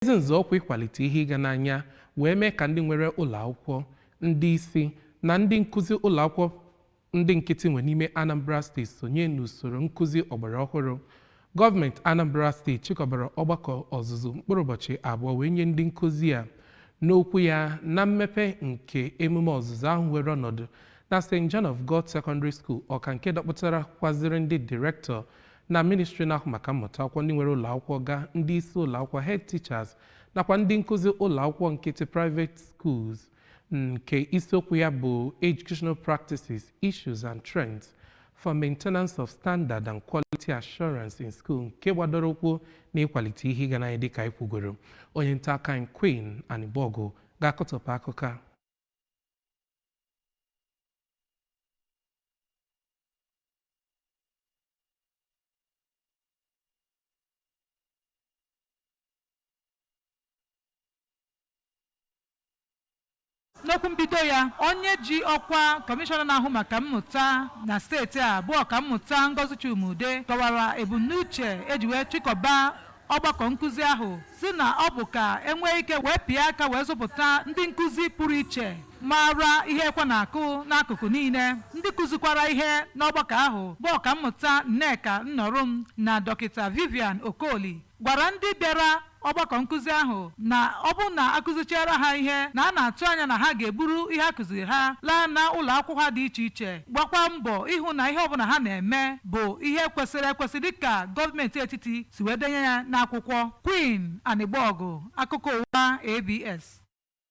ezi nzọụkwụ ịkwalite ihe ịga n'anya wee mee ka ndị nwere ụlọ akwụkwọ ndị isi na ndị nkụzi ụlọ akwụkwọ ndị nkịtị nwe n'ime Anambra steeti sonye n'usoro nkụzi ọgbara ọhụrụ gọọmenti Anambra steeti chịkọbara ọgbakọ ọzụzụ mkpụrụ ụbọchị abụọ wee nye ndị nkụzi a n'okwu ya na mmepe nke emume ọzụzụ ahụ were ọnọdụ na St. John of God Secondary School Ọka nke dọkpụtara kwaziri ndị direktọ na ministri na-ahụ maka mmụta akwụkwọ ndị nwere ụlọakwụkwọ ga ndị isi ụlọakwụkwọ head teachers nakwa ndị nkụzi ụlọakwụkwọ nkịtị private schools nke isiokwu ya bụ educational practices issues and trends for maintenance of standard and quality assurance in school nke gbadoro ụkwụ na ịkwalite ihe ịga n'anya dịka anyị kwugoro onye nta akụkọ anyị Queen Anigbogu ga-akọtọpụ akụkọ a n'okwu mbido ya onye ji ọkwa kọmishọna na-ahụ maka mmụta na steeti a bụ ọkammụta Ngozi Chuma-Udeh kọwara ebumnuche e ji wee chịkọba Ọgbakọ nkụzi ahụ sị na ọ bụ ka e nwee ike wee pịa aka wee zụpụta ndị nkụzi pụrụ iche maara ihe ekwe na-akụ n'akụkụ niile ndị kụzikwara ihe n'ọgbakọ ahụ bụ ọkammụta Nneka Nnorom na dọkịta Vivian Okoli gwara ndị bịara ọgbakọ nkụzi ahụ na ọ bụrụ na a kụzichiara ha ihe na a na-atụ anya na ha ga-eburu ihe a kụziri ha laa na ụlọ akwụkwọ ha dị iche iche gbakwa mbọ ịhụ na ihe ọbụla ha na-eme bụ ihe kwesịrị ekwesị dịka gọọmenti etiti si wee denye ya n'akwụkwọ. Queen Anigbogu, Akụkọ Ụwa, ABS.